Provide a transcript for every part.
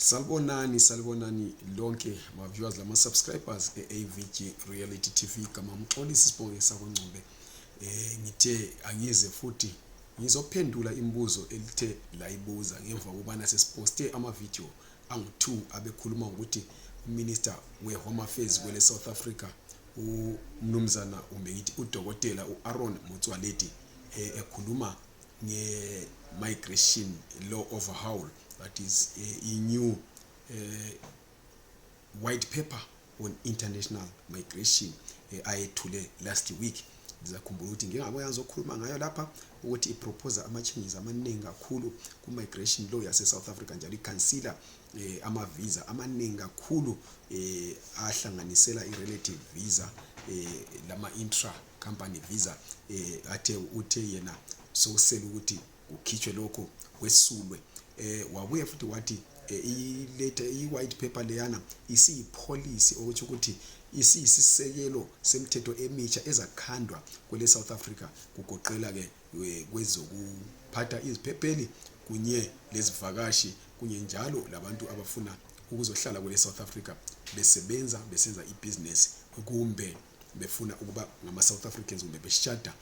Salibonani, salibonani lonke ma viewers lama subscribers e AVG Reality TV kama mxolisi sibonge sakongcombe. Eh ngithe angize futhi ngizophendula imibuzo elithe layibuza ngemva kubana sesiposte ama video angu 2 abekhuluma ukuthi uminister we Home Affairs kwele South Africa umnumzana umbe ngithi udokotela uAaron Motswaledi eh, ekhuluma nge-migration law overhaul that is eh, i-new eh, white paper on international migration eh, ayethule last week ndizakhumbula ukuthi ngingabuya ngizokhuluma ngayo lapha ukuthi iproposa ama-changes amaningi kakhulu ku-migration law yase-south africa njalo ikhansila um eh, ama-visa amaningi kakhulu um ahlanganisela i-relative visa um eh, lama-intra company visa eh, athe uthe yena sokusele ukuthi kukhitshwe lokho kwesulwe eh, wabuye futhi wathi eh, iletha i-white paper leyana isiyipholisi okutsho ukuthi isiyisisekelo semthetho emitsha ezakhandwa kwele South Africa kugoqela ke eh, kwezokuphatha iziphepheli kunye lezivakashi kunye njalo labantu abafuna ukuzohlala kwele South Africa besebenza besenza ibusiness kumbe befuna ukuba ngama South Africans kumbe beshada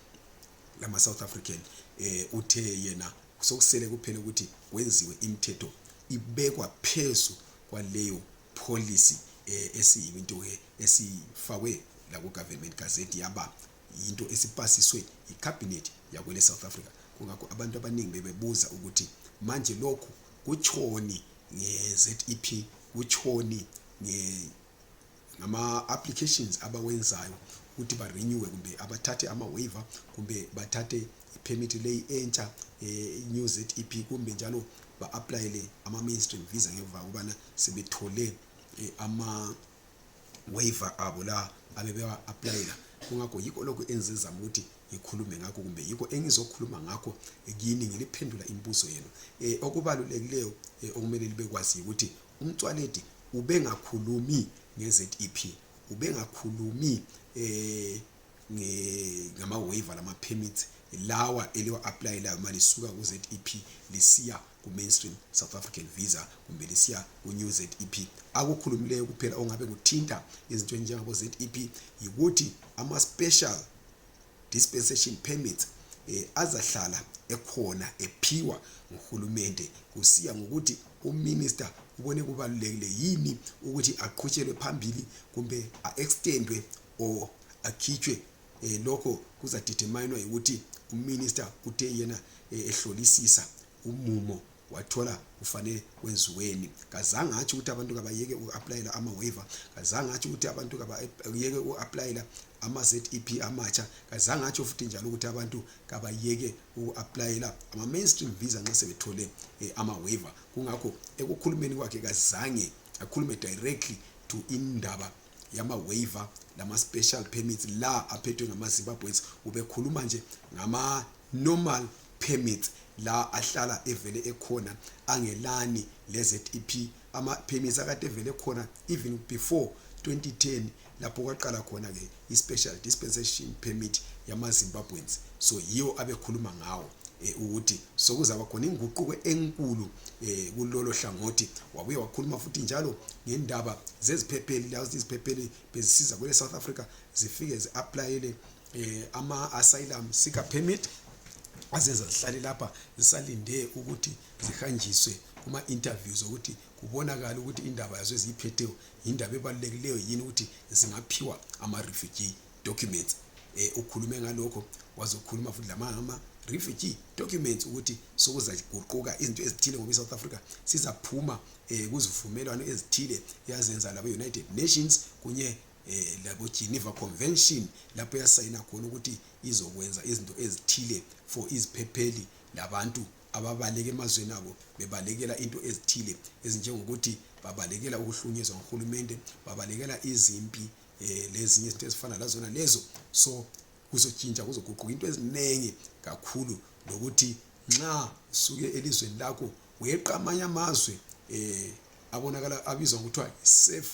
lama South African eh uthe yena sokusele kuphela ukuthi kwenziwe imithetho ibekwa phezu kwaleyo policy eh, esiyinto ke esifakwe la ku government gazette yaba yinto esipasiswe yi cabinet yakwele South Africa kungakho abantu abaningi bebebuza ukuthi manje lokhu kutshoni nge ZEP kutshoni nge ngama-applications abawenzayo ukuthi barenewe kumbe abathathe ama-waiver kumbe bathathe ipermit leyi entsha eh, new zep kumbe njalo ba-aplayele ama-mainstream visa ngemva kubana sebethole eh, ama-waiver abo la abebewa-aplayela kungakho yikho lokhu enzenza ukuthi ngikhulume ngakho kumbe yikho engizokhuluma ngakho kini ngiliphendula imibuzo yenu um okubalulekileyo um okumele libe kwazi yikuthi umtswaledi ubengakhulumi nge-zep ubengakhulumi eh ngama-waiver lama-permits lawa eliwa-aplayelayo uma lisuka ku-zep lisiya ku-mainstream south african visa kumbe lisiya ku-new zep akukhulumileyo kuphela ongabe kuthinta izinto ezinjengabo-zep yikuthi ama-special dispensation permits eh, azahlala ekhona ephiwa nguhulumende kusiya ngokuthi uminister ubone kubalulekile yini ukuthi aqhutshelwe phambili kumbe a-extendwe or akhitshwe eh, lokho kuzadeterminwa yikuthi uminister uthe yena eh, ehlolisisa umumo wathola kufanele kwenziweni kazange atsho ukuthi abantu kabayeke uku-aplayela ama-waiver kazange atsho ukuthi abantu kabayeke uku-aplayela ama-zep amatsha kazange atsho futhi njalo ukuthi abantu kabayeke uku-aplayela ama-mainstream visa nxa sebethole um ama-waiver kungakho ekukhulumeni kwakhe kazange akhulume directly to indaba yama-waiver lama-special permits la aphethwe ngama-zimbabweans ubekhuluma nje ngama-normal permits la ahlala evele ekhona angelani leZEP ama permits akade evele khona even before 2010 lapho kwaqala khona ke ispecial dispensation permit yama Zimbabweans so yiwo abekhuluma ngawo eh, ukuthi sokuzaba khona inguquko enkulu eh, kulolo hlangothi wabuye wakhuluma futhi njalo ngendaba zeziphepheli la iziphepheli bezisiza kwele South Africa zifike ziapplyele eh, ama asylum sika permit azenza zihlale lapha zisalinde ukuthi zihanjiswe kuma interviews ukuthi kubonakala ukuthi indaba yazo eziyiphetheyo yindaba ebalulekileyo yini ukuthi zingaphiwa ama refugee documents eh ukhulume ngalokho wazokhuluma futhi lamama refugee documents ukuthi sokuzaguquka izinto ezithile ngoba iSouth Africa sizaphuma eh kuzivumelwano ezithile yazenza labo United Nations kunye eh labo Geneva Convention lapho yasayina khona ukuthi izokwenza izinto ezithile for iziphepheli labantu ababaleke emazweni abo bebalekela into ezithile ezinjengokuthi babalekela ukuhlunyezwa nguhulumende babalekela izimpi eh lezinye izinto ezifana lazona lezo so kuzotshintsha kuzoguquka into eziningi kakhulu lokuthi nxa usuke elizweni lakho weqa amanye amazwe eh abonakala abizwa ngokuthiwa safe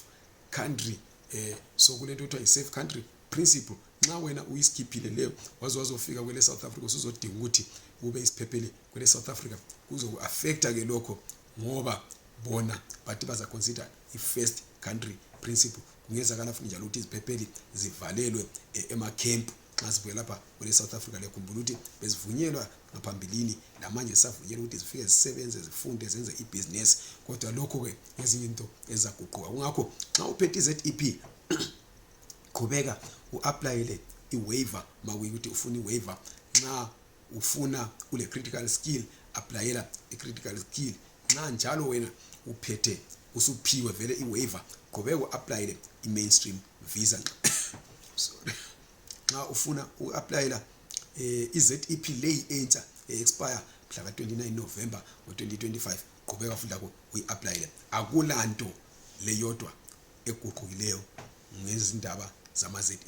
country eh so kulento kuthiwa yi-safe country principle nxa wena uyisikhiphile leyo waze wazofika kwele south africa usuzodinga ukuthi ube isiphephele kwele south africa kuzoku-affecta ke lokho ngoba bona bathi bazaconsider i-first country principle kungenzakala futhi njalo ukuthi iziphepheli zivalelwe eh, emakhempu nxa sibuye lapha kwele south africa liyakhumbula ukuthi bezivunyelwa ngaphambilini lamanje zisavunyelwa ukuthi zifike zisebenze zifunde zenze ibhizinesi kodwa lokho-ke ngezinye into ezizaguquka kungakho nxa uphethe i-z e p qhubeka u-aplayele i-waiver makuyikuthi ufuna i-waiver nxa ufuna ule critical skill applyela i critical skill nxa njalo wena uphethe usuphiwe vele i waiver qhubeka uapplyele i mainstream visa sorry nxa ufuna uapplyela um eh, i-zep leyi entsha e-expire mhla ka-29 november ngo-2025 qhubeka futhi lakho uyi-aplayele akulanto leyodwa eguqukileyo ngezindaba zama-zep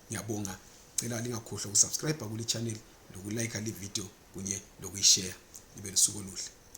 ngiyabonga cela lingakhohlwa ukusubscribe kuli channel lokulayikha livideo kunye lokuyishare libe lusuku oluhle